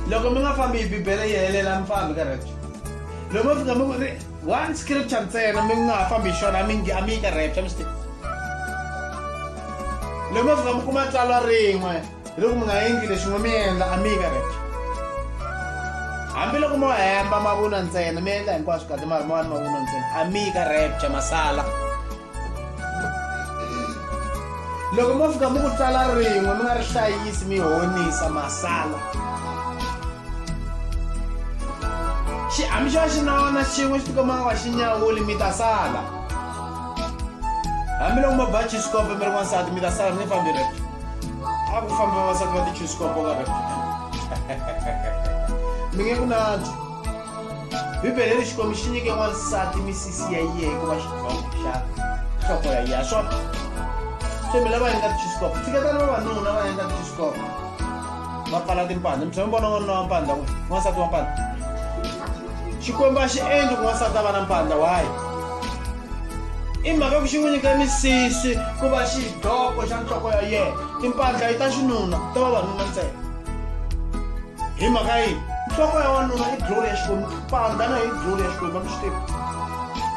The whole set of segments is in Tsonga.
loko mi nga fambi hi bibele yi helela mi fambi ka rapture loko mi fika mi ku ri one scripture ntsena mi nga ha fambi hi xona mi ngi a mi yi ka rapture mi swi tiva loko mi fika mi kuma tsalwa rin'we hi loko mi nga endli lexin'we mi endla a mi yi ka rapture hambiloko mo hemba mavunwa ntsena mi endla hinkwaswo kahle mari mawani mavunwa ntsena a mi yi ka rapture masala loko mo fika mi ku tsala rin'we mi nga ri hlayisi mi honisa masala xi hambi xo va xi nawana xin'we xi tikoma nga xi nyawuli mi ta sala hambiloko mo ba chisikopo mi ri wansati mi ta sala mi nge fambi rep a ku famba vavasati va tichusikopo ka rep mi nge ku nantswa bibele ri xikwembu xi nyike wansati misisi ya yeye ku va xidlongo xa nhloko ya yena swona se mi lava endla tixisikoko tshiketani vavanuna va endla tixisikoko va pfala timpandla mi tshame vona n'wanuna wa mpandla ku n'wansati wa mpandla xikwembu a xi endli ku n'wansati a va na mpandla why i mhaka ku xi n'wi nyika misisi ku va xidloko xa nhloko ya yena timpandla yi ta xinuna ta vavanuna ntsena hi mhaka yini nhloko ya wanuna i glory ya xikwembu pandza na hi glory ya xikwembu a mi swi tivi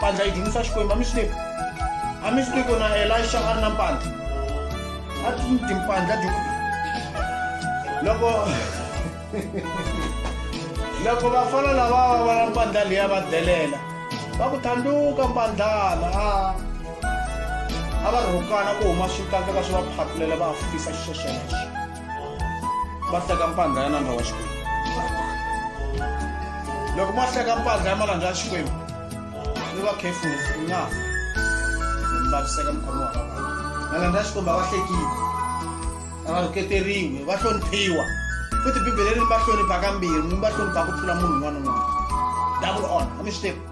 pandza yi dzunisa xikwembu a mi swi tivi a mi swi tivi ku na elisha a ri na mpandla a timpandla dyuku loko loko vafana lava va va na mpandla leya va delela va ku thanduka mpandlana a a va rhukana ku huma swikandzeka swi va phatulela va fisa xiswesweleswo va hleka mpandla ya nandza wa xikwembu loko mo hleka mpandla ya malandza ya xikwembu ni va khefulu mi nga fa mi vaviseka mukhomi wa vavana malandza ya xikwembu a va hlekile a va rhuketeriwi va hloniphiwa futhi bibele ri ni va hlonipha kambirhi mi va hlonipha ku tlula munhu un'wana un'wana double on a mi swi tivi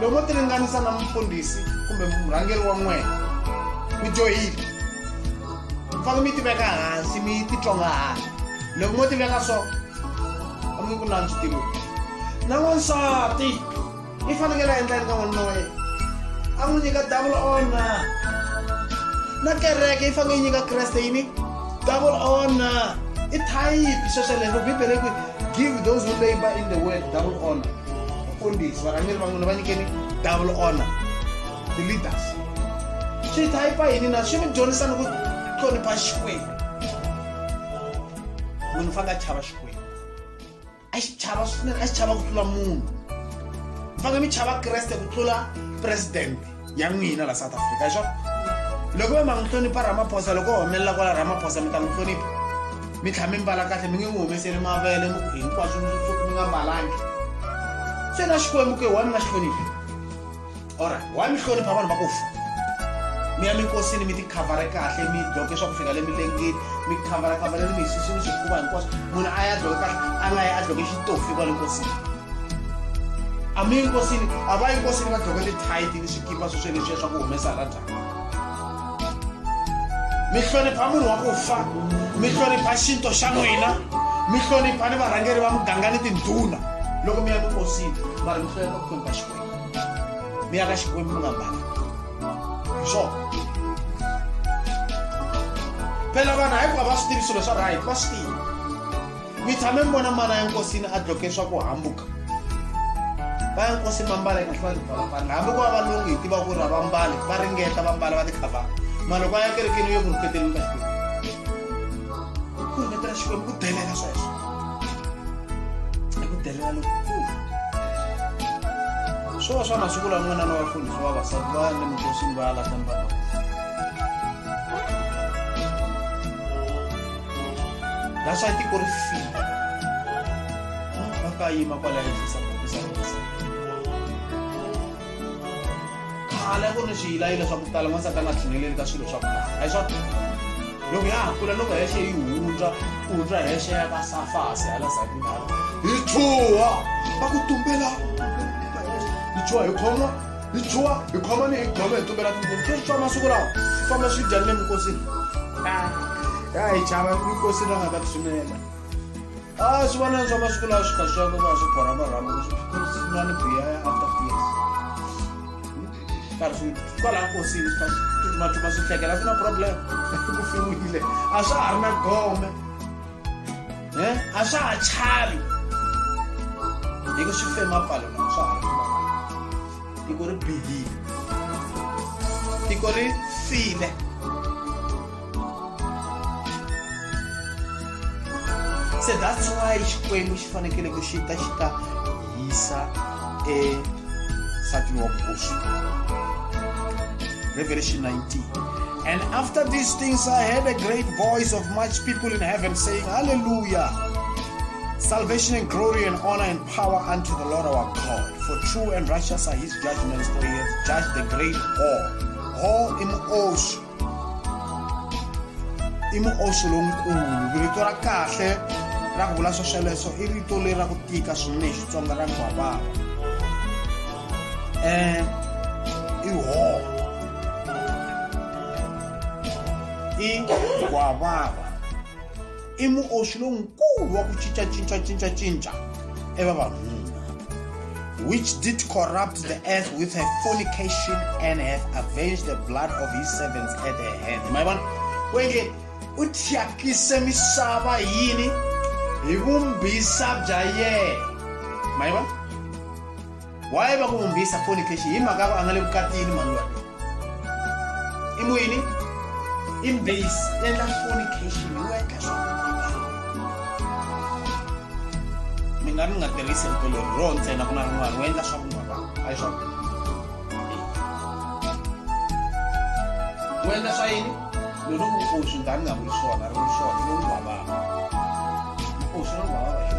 loko mo tiringanisa na mufundhisi kumbe murhangeri wa n'wena ku joyini mi fanele mi yi tiveka hansi mi yi titsonga hansi loko mo tiveka so a mi ku nantswi tivo na n'wansati i fanekele a endlani ka n'wanuna wa yena a n'wi nyika double ona na kereke yi fanele yi nyika kreste yini double ona i thayipi swesweleswo bibele ku give those who labor in the world double ona mfundhisi varhangeri va n'wina va nyikeni double honor the leaders swi thayipa yini na swi mi dyondzisa ni ku hlonipha xikwembu munhu u fanele a chava xikwembu a xi chava swinene a xi chava ku tlula munhu mi fanele mi chava kreste ku tlula presidente ya n'wina la south africa hi swona loko va ma n'wi hlonipha ramaphosa loko o humelela kwala ramaphosa mi ta n'wi hlonipha mi tlhela mi mbala kahle mi nge n'wi humeseli mavele hinkwaswo mi nga mbalangi se na xikwembu ke wa mi nga xi hloniphi ora wa mi hlonipha vanhu va ku fa mi ya minkosini mi tikhavhara kahle mi dloke swa ku fika le milengeni mi khavhara khavhara le mihlisini swifuva hinkwaswo munhu a ya dloke kahle a nga ya a dloke xitofi kwale nkosini a mi nkosini a va yinkosini va dloke tithaiti ni swikipa swo sweleswiya swa ku humesa rata mi hlonipha munhu wa ku fa mi hlonipha xinto xa n'wina mi hlonipha ni varhangeri va muganga ni tindhuna loko mi ya minkosini mara mi hlonipha ku hlonipha xikwembu mi ya ka xikwembu mi nga mbali swona phela vanhu hayi ku va va swi tivi swilo swa right va swi tivi mi tshame mi vona mana ya nkosini a dloke swa ku hambuka va ya nkosi mambala eka va tipalapala hambi ku va valungu hi tiva ku ri a va mbali va ringeta va mbala va tikhavaa mara loko a ya kerekeni yo ku rhuketeleni ka xikwembu ku rhuketela xikwembu ku delela sweswo i ku delela lokukulu swo va swa masiku lawa n'wana na vafundhi swa vavasati va le minkosini va ya lahlani vanhu that's why i think ku ri fika va ka yima kwala ehenhlisa khale ku ri ni swiyilayila swa ku tala n'wansati a nga tlhineleli ka swilo swa ku tala a hi swa loko ya ha kula loko hexe yi hundza ku hundza hexe ya ka safasi hala zakindala hi chuha va ku tumbela hi chuha hi khoma hi chuwa hi khomani hi gome hi tumbela tinguvu swi swa masiku lawa swi famba swi dyani le minkosini ya hi chava minkosini va nga ta tshunela a swi vona swa masiku lawa swi kha swi yaka va swi borha marhambo swin'wani biya ya after years karhi swi kwala nkosini swi kha swi tutumatuma swi hlekela swi na problem ku fiwile a swa ha ri na gome eh, a swa ha chavi hi ku swi fema pfalo na swa ha tiko ri bihile tiko ri file se that's why xikwembu xi fanekele ku xi ta xi ta hisa esatini wa vukosi revelation 19 And after these things, I heard a great voice of much people in heaven saying, Hallelujah! Salvation and glory and honor and power unto the Lord our God. For true and righteous are his judgments, for he has judged the great whore. Whore im osh. Im osh lonkulu. Rito ra kahle ra ku vula swesweleswo i rito leri ra ku tika swinene xitsonga ra nkwavava. Um i whore. i gwavava i muoxi lonkulu wa ku cincacincacincacinca evavanuna which did corrupt the earth with her fornication and have avenged the blood of his servants at her hand ma yi vona ku yenge u thyakise misava yini hi vumbisa bya yena ma yi vona waye va ku vumbhisa fornication hi mhaka va a nga le vukatini mhani loyi i muyini i mbhisi endla fornication wu endla swa mi nga ni nga tirhisi rito leri ro ntsena ku na rin'wana wu endla swa vun'wana a yi swa wu endla swa yini loko ku ku swi nga ni nga vuli swona ri vuli swona lowu vavaka ku swi ri vavaka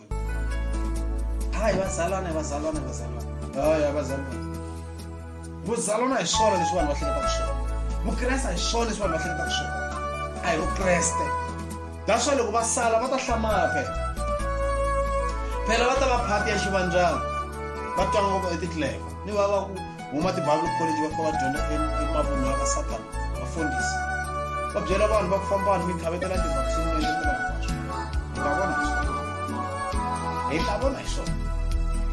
hayi vazalwana vazalwana vazalwana hayi vazalwana vuzalwana hi swona leswi vanhu va hleketaka swona vukreste hi swona leswi vanhu va hleketaka swona a hi vukreste naswona loko va sala va ta hlamala phela phela va ta va phati ya xivandyana va twa ngopfu etitleva ni va va ku huma tibible college va fika va dyondza emavunhu ya ka satana vafundhisi va byela vanhu va ku famba vanhu mikhavetela tivaccine leletela hi nga vona hi swona hi nga vona hi swona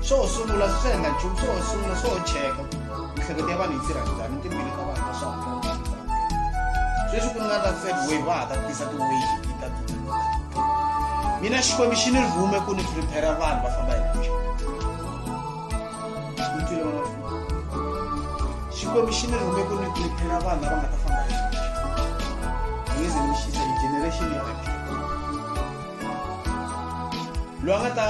swo ho sungula swi swi endla nchumu swo ho sungula swo ho cheka miehleketo ya vanhu yi tirha njhani timbili ka vanhu leswaku sweswi ku nga ta third wave va ha ta tisa tiwave ta mina xikwembu xi ni rhume ku ni prepare vanhu va famba hi xikomixini rhume ku ni prepare vanhu lava nga ta famba ngeze ni xisa hi generation ya loyi a nga ta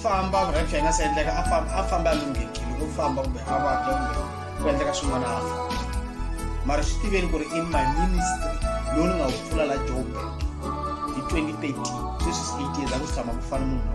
famba rapture yi nga se endleka a famba a lunghekile ku famba kumbe a vabya kumbe ku endleka swin'wana a fa mara swi tiveni ku ri i my ministry lowu ni nga wu pfula la joburg hi 2013 sweswi swi eight years a ku tshama ku fana munhu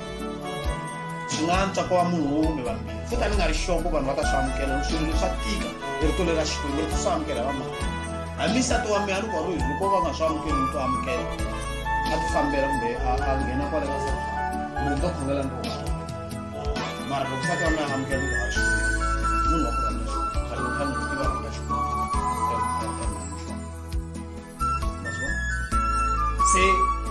swi nga antswa ku va munhu wo kumbe vambirhi futa ni nga ri xoko vanhu va ta swi amukela loko swilo leswa tika rito leri ra xikwembu ri swi amukela va mali hambi nsati wa mina loko ri loko va nga swi amukeli ni to amukela a ti fambela kumbe a nghena kwale ka sa munhu to khongela ni vona mara loko nsati wa mina a amukela ku haxi munhu wa ku rhandza xo khale u fanele u tiva rhandza xo se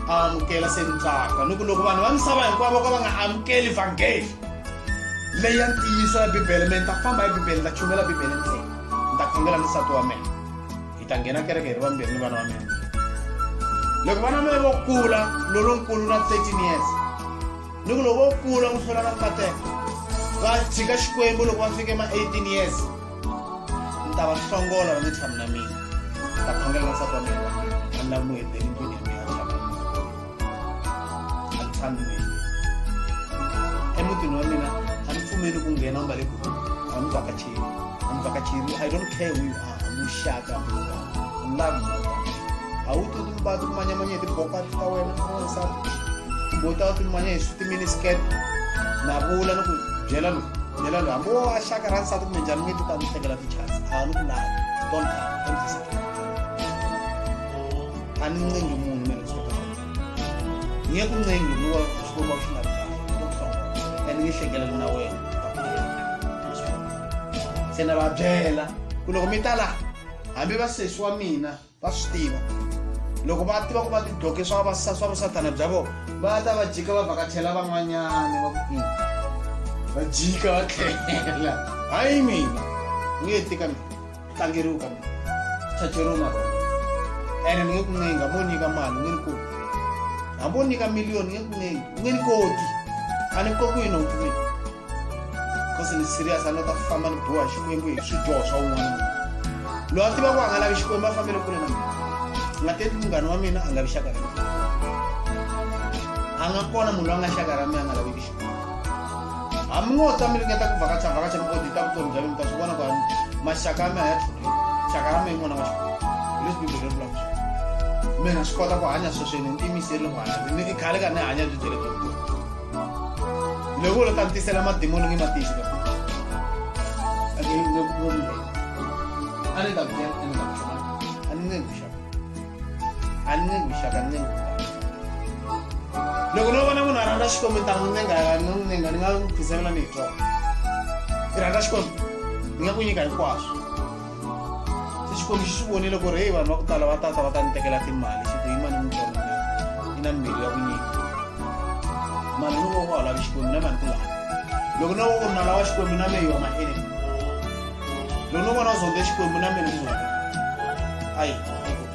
a amukela se ni tsaka ni ku loko vanhu va misava hinkwavo ka va nga amukeli vhangeli leyi ya ntiyiso ya bibele me ni ta famba hi bibele ni ta chumela bibele ntsena ni ta khongela ni nsati wa mina hi ta nghena kereke hi ri vambirhi ni vana va mina loko vana mina vo kula lolonkulu na 13 years ni ku loko vo kula ku hlula na nkateka va tshika xikwembu loko va fike ma 18 years ni ta va hlongola va nge tshami na mina ni ta khongela na sata wa mina a ni lavi muhedeni ndlwini ya mina a tshama a ni tshami mina emutini wa mina a ni pfumeli ku nghena u nga le group a ni vhakacheli a ni vhakacheli i don't care who you are muxaka munga love a wu ti va ti kumanyamanya hi tibokati ta wena n'wansati kumbe u ta ti kumanya hi switiminisket na vula ni ku byela loku byela loyi hambi wo a xaka ra nsati kumbe njhani nge ti ta ni hlekela tichance a ni ku lavi don't come don't visit a ni ncengi munhu mina swi kota nge ku ncengi ni wa swikomba swi nga kahle don't come and nge hlekela na wena se na va byela ku loko mi ta laha hambi vasesi wa mina va swi tiva loko va tiva ku va tidloke swa swa vusathana bya vona va ta va jika va vhakachela van'wanyana va ku va jika va tlhela hayi mina ni nge tika mina tlangeriwi ka mina chacheriwi na rona ene ni nge ku ncenga mo nyika mali ni ri ku hambi o nyika miliyoni nge ku ncengi nge ni koti a ni kokiwi nhompfu mina kosi ni serious a ni ta famba ni boha xikwembu hi swidyoho swa un'wana loyi a tiva ku a nga lavi xikwembu a fambele kule na mina a nga teki munghana wa mina a nga vi xaka ra mina a nga kona munhu loyi a nga xaka ra mina a nga laveki xikwembu hambi ngo ta mi ringeta ku vhakacha vhakacha mi odita vutomi bya mina mi ta swi vona ku maxaka ya mina ya tlhuleka xaka ra mina n'wana wa xikwembu leswi bibele ri vulavula mina swi kota ku hanya sweswi ni ni tiyimiseri loko hanya ni khale ka ni hanya byi bya le loko u lo ta ni tisela madimoni nge matisi ka a ni ta ku byela a ni ta ku byela a ni nge ku xaka a ni nge ku xaka ni nge loko no vona munhu a rhandza xikwembu ni ta n'wi nenga no n'wi nenga ni nga n'wi khizamela ni hi twa i rhandza xikwembu ni nga ku nyika hinkwaswo se xikwembu xi swi vonile ku ri heyi vanhu va ku tala va tata va ta ni tekela timali xi ku yi mani mutsongo i na mbilu ya ku nyika mali ni voko wa lavi xikwembu na mani ku lava loko no voko na lava xikwembu na meyi wa maele loko no vona zonde xikwembu na meni ku zonde ayi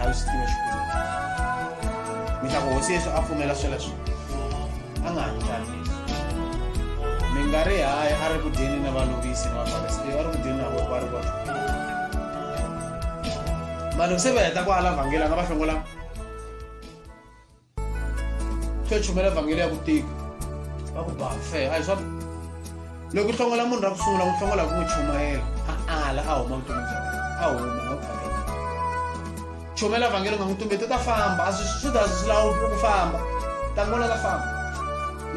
a yi swi tiva xikwembu mi ta ku hosi yesu a pfumela sweleswo a nga hanyi tani leswi mi nga ri hayi a ri ku dyeni na valovisi na vafarisi leyi a ri ku dyeni na voko a ri kona vanhu se va heta ku ala vhangeli a nga va hlongolanga swo chumela vhangeli ya ku tika va ku bafe a hi swa loko u hlongola munhu ra ku sungula n'wi hlongola ku n'wi chumayela a ala a huma vutomi bya wena a huma a vhangeli chumela vhangeli u nga n'wi tumbeti u ta famba a swi swi ta swi lawu ku famba tangona ta famba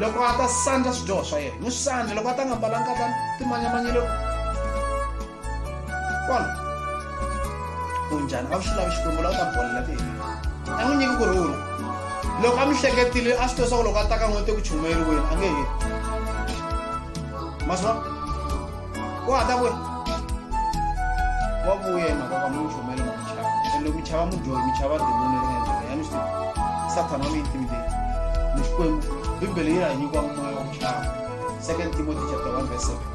loko a ta sandla swidyoho swa yena n'wi sandla loko a ta nga mbalanga ka timanyamanyeloko kona u njhani a wu xi lavi xikwembu la u ta bolela ku yini a n'wi nyiki ku rhula loko a mi hleketile a swi tosa ku loko a ta ka n'wete ku chumayeriweni a nge heli maswa ku hata kwe wa vuya hi mhaka ka munhu chumayeli ma michava and loko michava mudyohi michava demoni ri nga ndlela ya ni swi sathana wa mi intimidate ni xikwembu bibele yi ra hi nyikiwa moya wa ku chava second timothy chapter 1 verse 7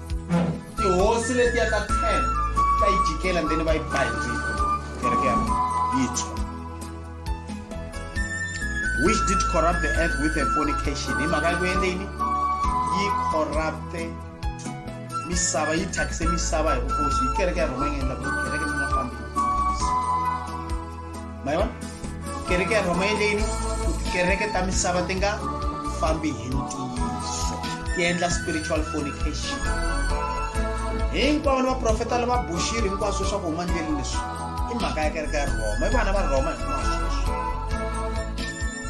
tihosi letiya ta ten ta yi jikela and then va yi ba hi rito kereke ya yi tshwa which did corrupt the earth with a fornication hi mhaka ku endle yini yi corrupte misava yi thyakise misava hi vukosi yi kereke ya rhoma yi nga endla ku kereke ni nga fambi ma yi vona kereke ya rhoma yeleni tikereke ta misava ti nga fambi hi ntiyiso ti endla spiritual fornication hinkwavo ni vaprofeta lava buxiri hinkwaswo swa ku huma ndleli leswi i mhaka ya kereke ya rhoma i vana va rhoma hinkwaswo leswi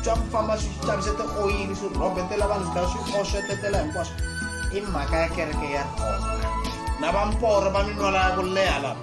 swa ku famba swi xavise tioyili swi rhobetela vanhu swi swi oxetetela hinkwaswo i mhaka ya kereke ya rhoma na vamporo va minwala ya ku leha lava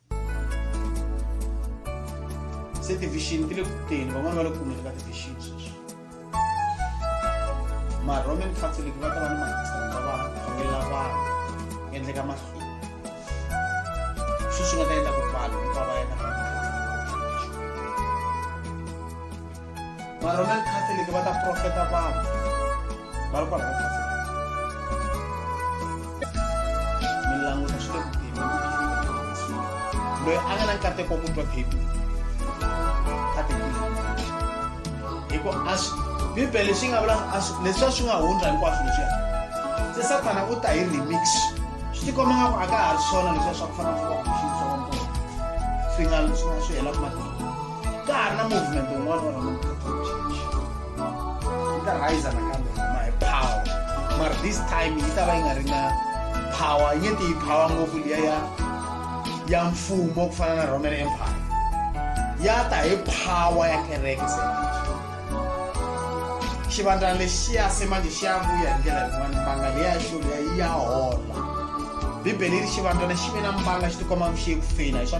se tivixini ti le ku teni van'wana va le ku kumeni ka tivixini sweswi maroman catholic va ta va ni makristana va khongela vanhu endleka mahlweni sweswi nga ta endla ku vanhu va va yena loyi a nga na nkateko ku twa phephi ka tibibele hi ku a swi bibele leswi nga vula leswi a swi nga hundza hinkwaswo leswiya se sathana u ta hi remix swi tikomba nga ku a ka ha ri swona leswiya swa ku fana swa ku xiswona swi nga swi nga swi hela ku matimba ka ha ri na movement un'wana wa roman catholic church yi ta rhayisa nakambe huma hi power mara this time yi ta va yi nga ri na power yi nge ti yi power ngopfu liya ya ya mfumo ku fana na roman empire ya ta hi power ya kereke se xivandla lexiya se manje xi ya vuya hi ndlela yin'wana mbanga leyi ya xo leyi ya hola bibele yi ri xivandlwana xi ve na mbanga xi tikomba xi ye ku feyila hi swa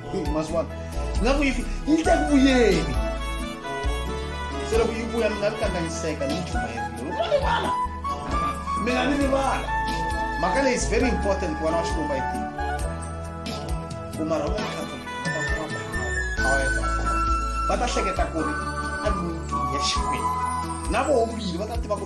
Hey, mazwana ngaku yi fi- yi ta ku vuyeni se loko yi vuya mi nga ri kanganyiseka ni nchumu yelero ma rivala mi nga ni rivala mhaka leyi is very important ku vana wa xikwembu a yi tiva ku mara va catholic va ta kuma power power ya Bafana. va ta hleketa ku ri a ni ya xikwembu na voho vini va ta tiva ku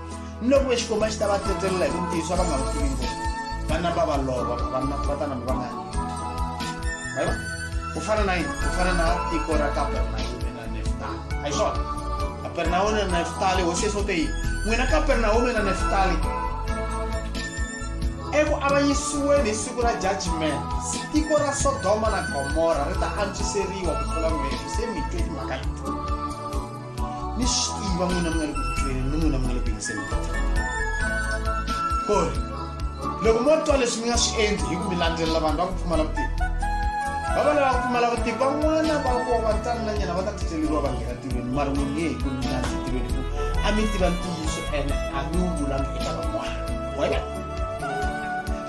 ni loko ve xikwembu a xi ta va tsetselela hi vutiso a va nga wu tivi ngopfu va namba va lova va vatana mi va nga yini vaiva ku fana na yini ku fana na tiko ra kapernaume na neftali a hi swona kapernaume na neftali hosi yesu te yini n'wina kapernaume na neftali eku avanyisiweni hi siku ra judgment tiko ra sodoma na gomora ri ta antswiseriwa ku tlula n'wina se mi twe timhaka leti ni swi tiva n'wina mi nga le ku tweni ni n'wina mi nga le ku yingiseni ku ri loko mo twa leswi mi nga swi endli hi ku mi landzelela vanhu va ku pfumala vutivi va va lava ku pfumala vutivi van'wana va vo va tani na nyana va ta titleleriwa va nghena tirhweni mara n'wi nge hi ku mi landze tirhweni ku a mi tiva ntiyiso ene a mi wu vulangi eka van'wana wena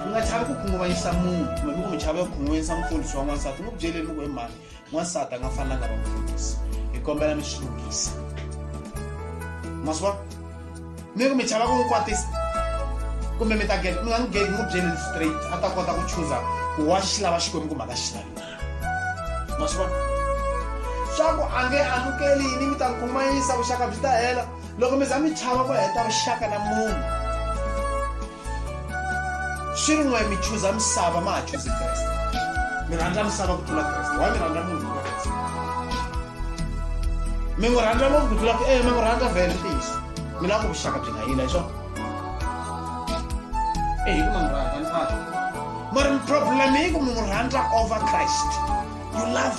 mi nga chavi ku khunguvanyisa munhu kumbe mi ku mi chava ku khunguvanyisa mufundhisi wa n'wansati n'wi byeleni loko hi mhani n'wansati a nga fanelanga va mufundhisi hi kombela mi swi lunghisa ma swi vona mi ku mi chava ku n'wi kwatisa kumbe mi ta mi nga n'wi gate n'wi byeleni straight a ta kota ku chuza ku wa xi lava xikwembu kumbe a nga xi lavi ma swi vona swa ku a nge amukeli yini mi ta n'wi kumayisa vuxaka byi ta hela loko mi za mi chava ku heta vuxaka na munhu swi ri n'we mi chuza misava ma ha chuzi kreste mi rhandza misava ku tlula kreste wa mi rhandza munhu ku kreste mi n'wi rhandza ngopfu ku tlula ku e mi n'wi rhandza vhele ntiyiso mi lava ku vuxaka byi nga yila hi swona e hi ku ma n'wi rhandza ni fana mara problem yi ku mi n'wi rhandza over christ you love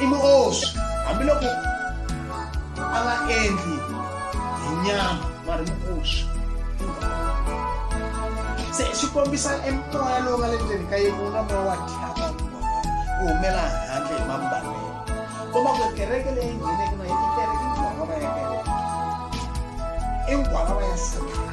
i muoswi hambiloko a nga endli hi nyama mari muoswi se swi kombisa emoya lowu nga le ndzeni ka yena wu nga moya wa thyaka ku humela handle hi mambalelo komba ku kereke leyi ngheneke na yi kereke i ngwavava ya kereke i ngwavava ya satana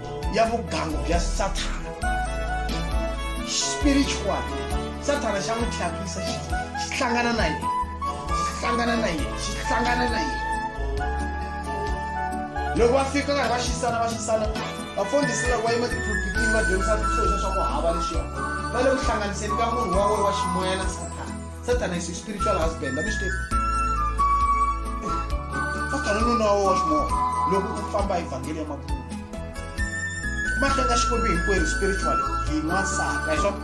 ya vugangu bya Sathana spiritual Sathana xa n'wi thyakisa xi hlangana na yena xi hlangana na yena xi hlangana na yena loko va fika karhi va xisana va xisana vafundhisi loko va yima tiphulpitini va dyondzisa swisoxa swa ku hava leswiya va le ku hlanganiseni ka munhu wa wena wa ximoya na Sathana Satan is his spiritual husband a mi swi tivi Satan i nuna wa ximoya loko u famba evhangeli ya mabulu ma hlenga xikwembu hinkwerhu spiritual hi n'wansati a hi swona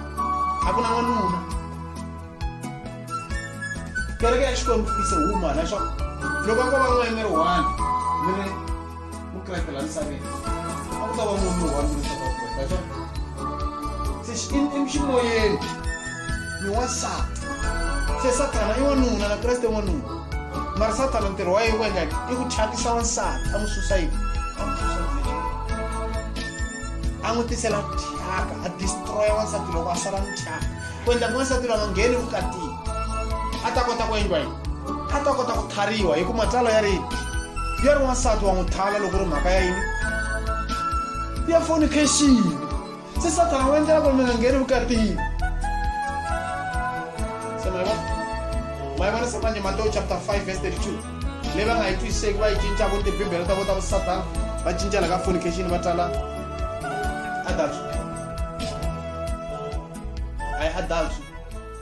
a ku na n'wanuna kereke ya xikwembu is a woman a hi swona loko ko va n'wayimeri one mi ri mukreste la misaveni a ku ta va munhu wa mina swa vakreste a se ximoyeni ni wansati se sathana i wanuna na kreste wanuna mara sathana ntirho wa yena ku endla yini i ku thyakisa wansati a n'wi susa yini a n'wi susa a n'wi tisela thyaka a destroya wansati loko a sala ni thyaka ku endla ku wansati loyi a nga ngheni vukatini a ta kota ku endliwa yini a ta kota ku tlhariwa hi ku matsalwa ya ri ya ri wansati wa n'wi thala loko ri mhaka ya yini ya fornication se sathana wu endlela ku ri mi nga ngheni vukatini se ma yi vona ma yi vona se manje matewu chapter 5 verse 32 leyi va nga yi twisiseki va yi cinca vo tibibele ta vo ta vusathana va cincela ka fornication va tala adultery a yi adultery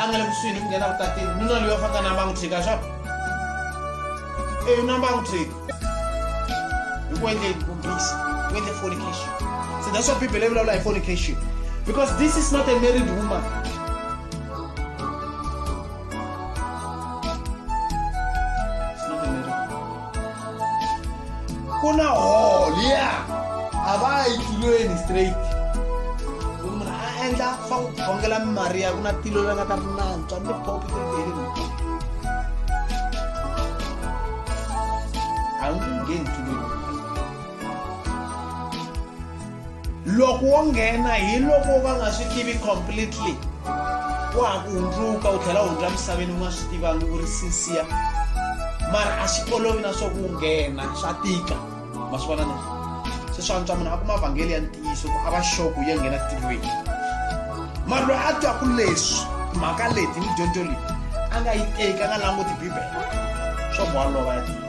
a nga le kusuhi ni ku nghena vukatini nuna loyi a fanga na mbangu tshika swa eyi na mbangu tshika hi ku endle vumbisi ku endle fornication so that's what bibele yi vulavula hi fornication because this is not a married woman ku na hall ya a va yi tilweni straight munhu a endla swa ku khongela mimariya ku na tilo leri nga ta ri nantswa ni popi ti ri a wu nge ngheni tilweni loko wo nghena hi loko va nga swi tivi completely wa ha ku hundzuka u tlhela u hundza misaveni u nga swi tivangi u ri sinsiya mara a swi olovi na swa ku nghena swa tika ma swi vona na se swa antswa munhu a kuma vhangeli ya ntiyiso ku a va xoku yo nghena tivweni mara loyi a twaku leswi mhaka leti ni dyondzo leyi a nga yi teki a nga languti bibele swa ku wa lova ya tiva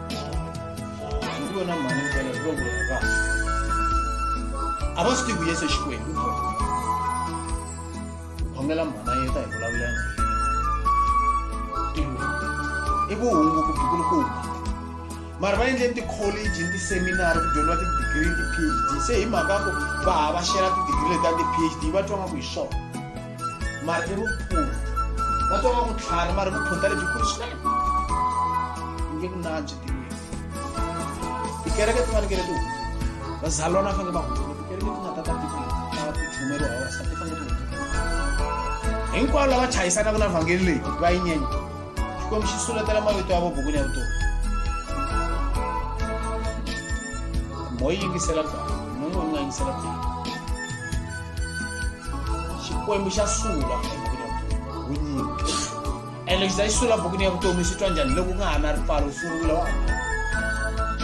kubona mwana mwana kubona ba abasiti kuyese xikwembu khongela mhana yeta hi vulavula na yena i vuhungu ku bikulukumba mara va endle tikholeji ni tiseminari ku dyondziwa tidigiri ti-phd se hi mhaka ku va hava xela tidigiri leti ta ti-phd va twa nga ku hi swona mara i vukulu va twa va vutlhari mara vukhonta lebyikulu swinene u nge ku nantswi tiwini tikereke ti fanekele ti hundza vazalwana va fanele va hundza tikereke ti nga ta ta tikweni ta ku chumeriwa vavasati ti fanele ti hundza hinkwavo lava chayisanaka na vhangeli leyi va yi nyenya xikwembu xi suletela mavito ya vo bukwini ya vutomi moyi yingisela baa munhu u nga yingisela baa xikwembu xa sula ebukwini ya vutomi winyingi ene lexi ta xi sula bukwini ya vutomi xi twa njhani loko ku nga ha na ripfalo u sungula wa ni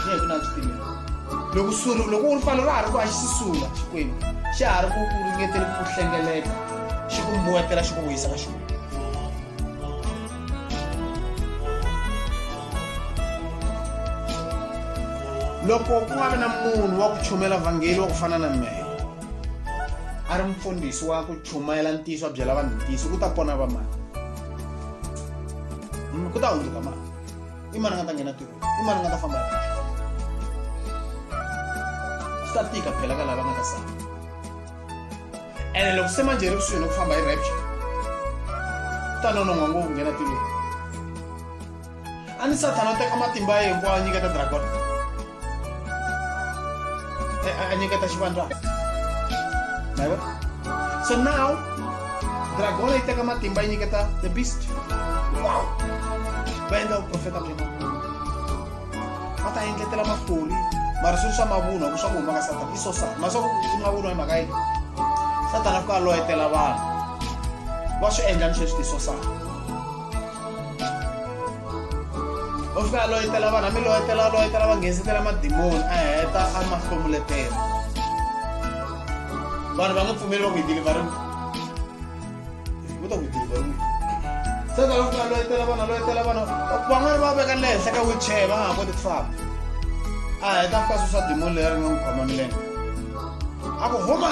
hi ku na swipimelo loko suri loko u ripfalo ra ha ri ku a xi sisula xikwembu xa ha ri ku ku ringetele ku hlengeleta xi ku mbuwetela xi ku vuyisa ka xikwembu loko ku nga vi na munhu wa ku chumela vhangeli wa ku fana na mehe a ri mfundhisi wa ku chumayela ntiyiso a byela vanhu ntiyiso ku ta pona va mani ku ta hundzuka mani i mani nga ta nghena tiko i mani nga ta famba swi ta tika phela ka lava nga ta sala ene loko se manjeri kusuhi ni ku famba hi rapture ku ta nonon'wa ngopfu nghena tiko a ni sathana u teka matimba ya hinkwawo a nyiketa dragon a nyiketa xivandlana ma yivo so now dragon yi teka matimba yi nyiketa the beast wow va endla vuprofeta bya mavunwa va ta endletela mafoli mara swilo swa mavunwa ku swa ku huma ka satana i so sana ma swa ku i mavunwa hi mhaka yini satana fika a loyetela vanhu va swi endla ni sweswi ti so sana u fika a loyetela vanhu a mi loyetela loyetela va nghensetela madimoni a heta a ma hlomuletela vanhu va nga pfumeli va ku hi dilivhariwa va ta ku dilivhariwa se ka loko a loyetela vana loyetela vana van'wana va veka le henhla ka wheelchair va nga ha koti ku famba a heta fika sweswa dimoni leri ri nga n'wi khoma milenge a ku huma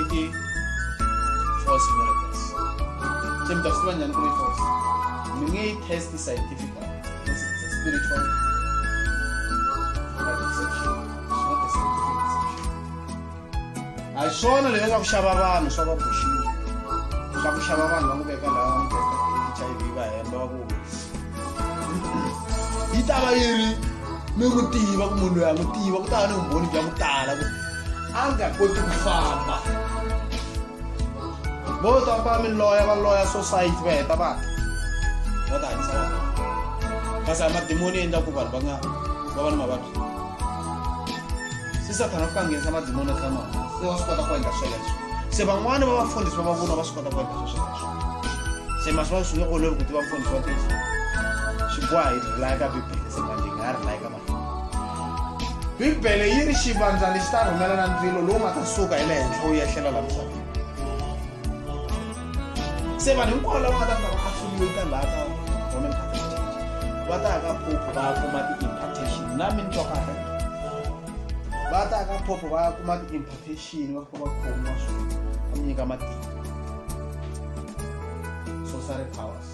iti force miracles chemita kusiva njani kuri force mi nge yi test scientifical because it's a spiritual hi swona leswi swa ku xava vanhu swa va buxiwa swa ku xava vanhu va n'wi veka laha va n'wi testa h i v va hemba va ku yi ta va yi ri mi ku tiva ku munhu loyi a n'wi tiva ku ta va ni vumbhoni bya ku tala ku a nga koti ku famba vo ta va mi loya va loya society va heta va va ta hanyisa vanhu kasi a madimoni endla ku vanhu va nga va va ni mavabyi se sathana u fika nghenisa madimoni eka mavabyi se wa swi kota ku endla sweleswo se van'wani va vafundhisi va mavunwa va swi kota ku endla swesweswo se masiva swi nge olovi ku tiva mfundhisi wa tisa swi boha hi rilaya ka bibele se manje hi nga rilaya ka bibele yi ri xivandla lexi ta rhumela na ndzilo lowu nga ta suka hi le henhla wu yehlela la misaveni se vanhu hinkwavo lava nga ta fika va affiliata laha ka roman catholic church va ta ya ka pope va ya kuma ti-impartation na mi ni twakaka va ta ya ka pope va ya kuma ti-impartation va fika va khomiwa swona va mi nyika matimba society powers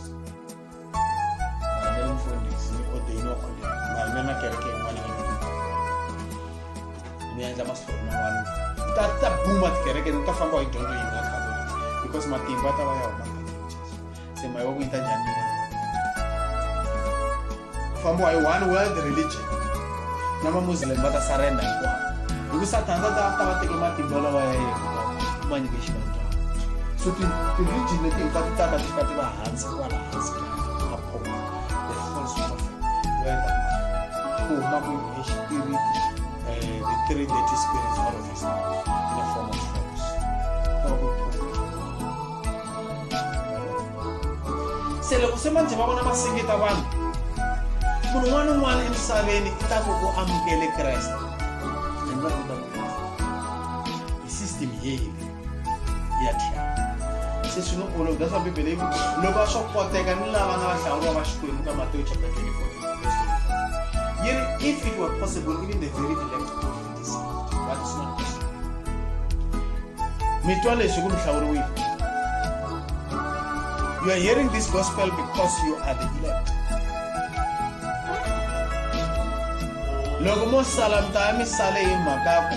niendza maswiri man'wana ta ta buma tikereke ni ta famba hi dyondzo yi nga khatoliki because matimba ta va ya huma se mayi wa ku yi ta njhani fambiwa hi one world religion na mamuslim va ta sarenda hinkwavo hi ku satana ta ta va teke matimba lawa ya yena ma nyike xivandlwana so ti-region leti hinkwato tata ti fika ti va hansi se loko se manjhe va vona va sengeta vanhu munhu un'wana ni un'wana emisaveni i ta ku u amukele kreste hi va ku ta ku hi system yeyile ya tlhela se swi ni olova that's why bibele yi ku loko a swo koteka ni lava nga va hlawuriwa va xikwembu ka mateyo chapter 24 yi ri if it were possible even the very elect could be deceived but it's not possible mi twa leswi ku mi hlawuriwile you are hearing this gospel because you are the elect loko mo sala mi ta ya mi sale hi mhaka ku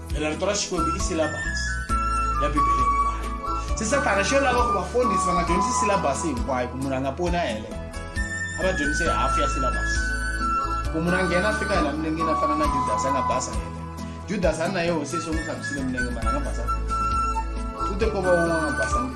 re la re tora xikwembu i silabasi ya bibele hinkwayo se sathana xo lava ku vafundhisi va nga dyondzisi silabasi hinkwayo ku munhu a nga poni a heleyo a va dyondzise hafu ya silabasi ku munhu a nghena a fika hela milengeni a fana na judasi a nga basa heleyo judasi a ri na yeho sesi u n'wi tlhakusile milenge mara a nga basa u te ko va un'wana a nga basangi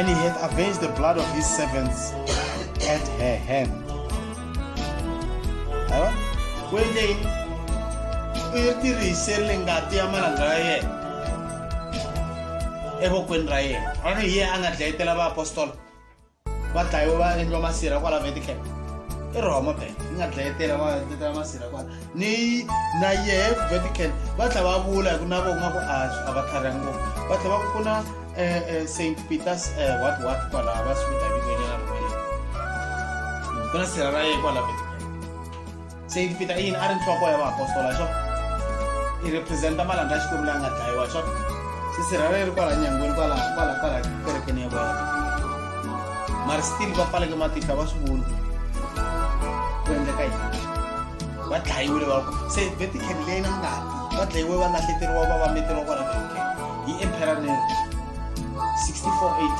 and he hath avenged the blood of his servants at her hand. Kwendeni u yi tirhisele ngati ya malanga ya yena evokweni ra yena a ri hi yena a nga dlayetela vaapostola va dlayiwe va endliwa masirha kwala veticap i roma bank yi nga dlayetela va tetela masirha kwala ni na yehe vetical va tlha va vula hi ku na vo nga ku a a va tlhariha ngopfu va tlha va ku ku na eh, eh, st peters eh, what what kwala va swi vita vito nyana ku na sirha ra yehe kwala vetical se yi vita i yini a ri nhloko ya vaapostola xo i representa malandza ya xikwembu la nga dlayiwa xo sisirhaleri kwala nyangweni kwala kwala kwala kerekeni ya vona mari still va pfaleke matihla va swi vula ku endleka yini va dlayiwile va ku se vetican leyi na ngati va dlayiwe va lahleteriwa va va meteriwa kwala vetican hi emperor nero 64 ad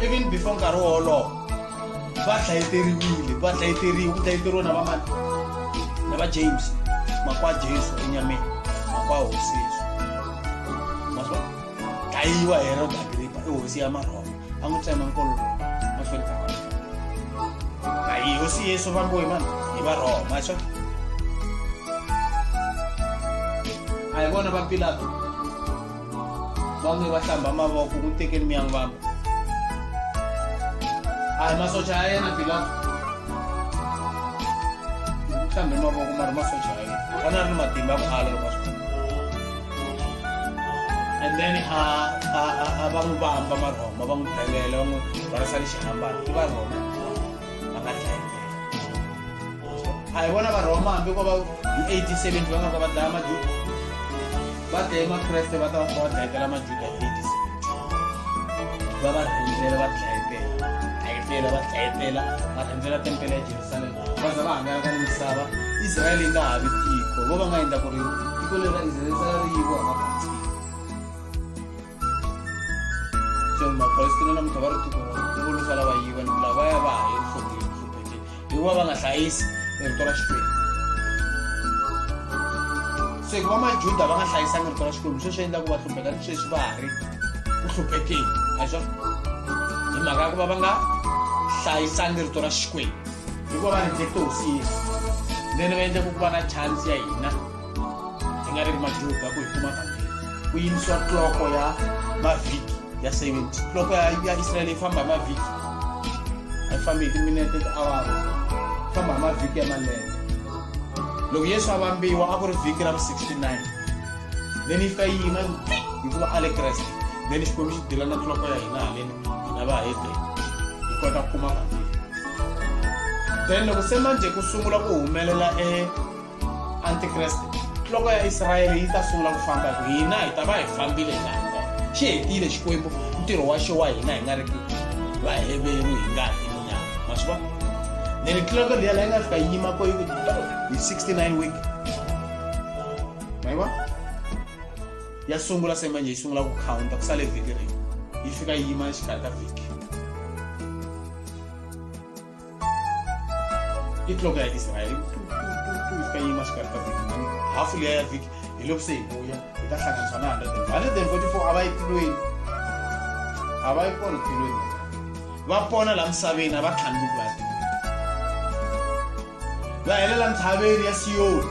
even before nkarhi wolowo va dlayeteriwile va dlayeteriwa ku dlayeteriwa na vamani na va james makwa jesu enyameni makwa hosi yesu maswa dlayiwa herod agripa i hosi ya marhoma a n'wi tsema nkololo mahlweni ka vanhu a hi hosi yesu vambiwe mani hi varhoma swa a hi vona va pilato vange va hlamba mavoko ku tekeni mi yangu vamba a hi masocha ya yena pilato ku hlambe mavoko ma ri masocha ya yena vona ri ni matimba ku ala loko swi and then a a a va n'wi vamba marhoma va n'wi belela va n'wi varisa lexihambana i varhoma a hi vona varhoma hambi ko va hi 87 va nga ka va dlaya majuda va dlaye makreste va ta va va dlayetela majuda hi 87 va va rhendzela va dlayetela dlayetela va dlayetela va rhendzela tempele ya jerusalema va za va hangalaka ni misava israyele yi nga ha vi tiko vo va nga endla ku ri tiko leri ra israyele sala ri yiviwa hi mabatsini mapalestina namuntlha va ri tiko volusa lava yi vanhu lavaya va ha evuhlongeni vuhlupheteni hikuva va nga hlayisi rito ra xikwembu se hikuva majuda va nga hlayisangi rito ra xikwembu sweswi endlaku va hlupheka ni sweswi va ha ri ku hluphekeni a swa hi mhaka ya ku va va nga hlayisangi rito ra xikwembu hikuva va rejecte hosi yesu then va endleka ku va na chance ya hina hi nga ri ri madluga ku hi kuma vhangeri ku yimisiwa tloko ya mavhiki ya 70 tloko ya ya israyele yi famba hi mavhiki a yi fambi hi timinete tiawara yi famba hi mavhiki ya malembe loko yesu a vambiwa a ku ri vhiki ra vu 69 then yi fika yi yima hikuva a le kreste then xikwembu xi dila na tloko ya hina haleni hina va hede hi kota ku kuma vhangeri then loko se manje ku sungula ku humelela e antikreste nhloko ya israyele yi ta sungula ku famba hi ku hina hi ta va hi fambile hi laha kona xi hetile xikwembu ntirho wa xo wa hina hi nga ri vaheveru hi nga hi munyama ma swi vona then nhloko liya la yi nga fika yi yima ko yi ku hi 69 week ma yi vona ya sungula se manje yi sungula ku counta ku sale vhiki rin'we yi fika yi yima exikarhi ka vhiki itloko ya-israyeli ifenye imashikari kavikinini hafu leya ya vhiki hi loko se hi vuya hi ta hlanganiswa na 144 a va yi tilweni a va yi kona tilweni va pona laha misaveni a va tlhani loko va ya va helela ntshaveni ya siyoni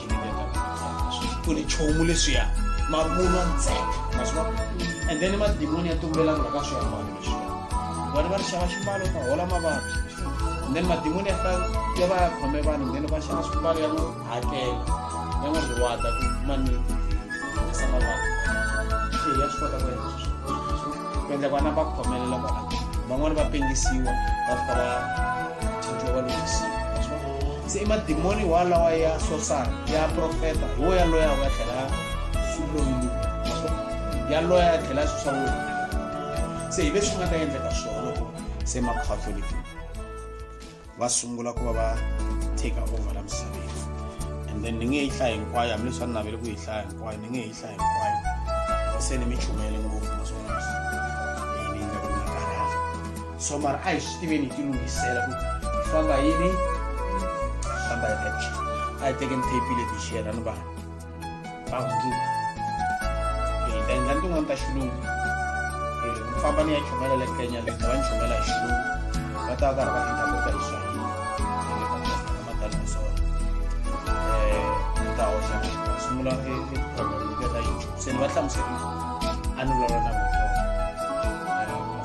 swi nge pfuni nchumu leswiya mavunwa ntsena maswa and then madimoni ya tumbela ku la ka swiambalo leswiya vona va ri xava ximbalo ta hola mavabyi and then madimoni ya fa ya va ya khome vanhu then va xava swimbalo ya n'wi hakela ya n'wi riwata ku mani esa mavabyi se ya swi kota ku endla sweswo ku endla ku ana va khomelela kwala van'wani va pengisiwa va fika va thinjiwa va lunghisiwa se i madimoni wa lawa ya sosana ya profeta hi wo yaloya wa tlhela ya swilongi yaloya ya tlhela swi swa wena se hi leswi nga ta endleka swona loko se macatholic va sungula ku va va take over la misaveni and then ni nge yi hlaya hinkwayo hambileswi a ni navele ku yi hlaya hinkwayo ni nge yi hlaya hinkwayo se ni mi chumele ngopfu maswona so mara a hi swi tiveni hi tilunghisela ku hi famba yini hi famba hi rapture a hi tekeni tape leti hi xiyela ni vanhu va hundzuka hi ta endla ni tin'wana ta xilungu hi famba ni ya chomela le kenya le va ni chomela hi xilungu va ta va karhi va endla kota hi swahili matani swona um ta hoxa sungula eproblem ya ta yi se ni va hlamuserile a ni vulavula na vona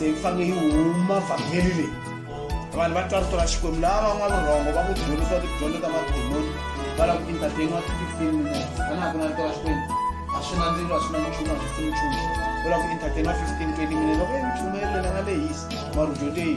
se yi fanele yi huma vhangeli leyi vanhu va twaritola xikwembu laha van'wana rhongo va ku dyondzisiwa tidyondzo ta mademoni va lava ku entertainiwa ti-fifteen minutes a na ha ku na ritola xikwembu a swi na ndzilo a swi na nchumu a swi pfuni nchumu u lava ku entertainiwa fifteen twenty minutes loko yi nchumu yelelela nga lehisi marudyo teyi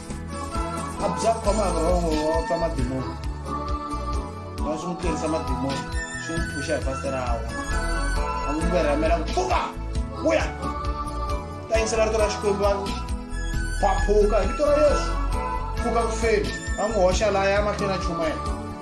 a bya khoma wrong wa pfa madimoni wa swi n'wi tirhisa madimoni swi n'wi phusha hi fasiterawa a n'wi verhamela ku pfuka vuya ta yingisela rito ra xikwembu va phaphuka hi vito ra yesu pfuka ku feni a n'wi hoxa laya mahlweni a chumayela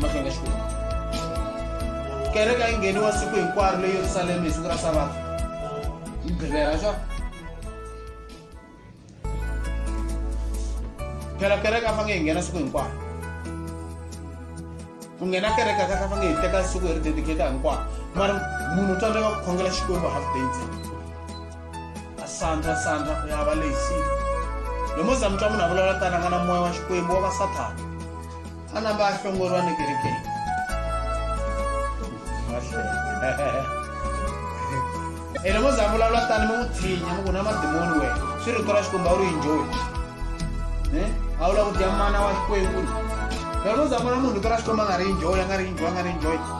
mahlonga xikwembu kereke a yi ngheniwa siku hinkwaro le yerusalema hi siku ra sabato yi gqivera swa phela kereke a fange hi nghena siku hinkwaro ku nghena kereke a ka a fange hi teka siku hi ri dedicata hinkwaro mara munhu u tsandzeka ku khongela xikwembu half day ntsena sandra sandra ku yava lexi lomoza mi twa munhu a vulavula tani a nga na moya wa xikwembu wa vasathana a namba a hlongoriwa ni kerekeni e lomoza a vulavula tani mi n'wi tshinya mi ku na madimoni wena swi rito ra xikwembu a wu ri enjoyi eh? a wu la ku dya mana wa xikwembu lomoza a vona munhu rito ra xikwembu a nga ri enjoyi a nga ri enjoyi a nga ri enjoyi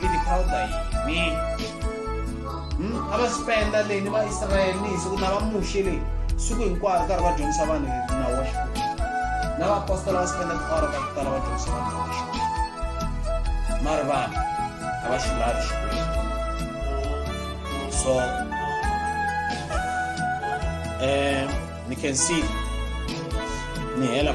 tiphawuda yini hmm? a va spenda leyi ni vaisrayele ni hi siku na va muxe leyi siku hinkwaro karhi va dyondzisa vanhu nawu wa xikwembu na vaapostola va spenda tiawara ta ku tala va dyondzisa vanhu nawu wa xikwembu mari vanhu a va xi lavi xikwembu so um ni can see ni hela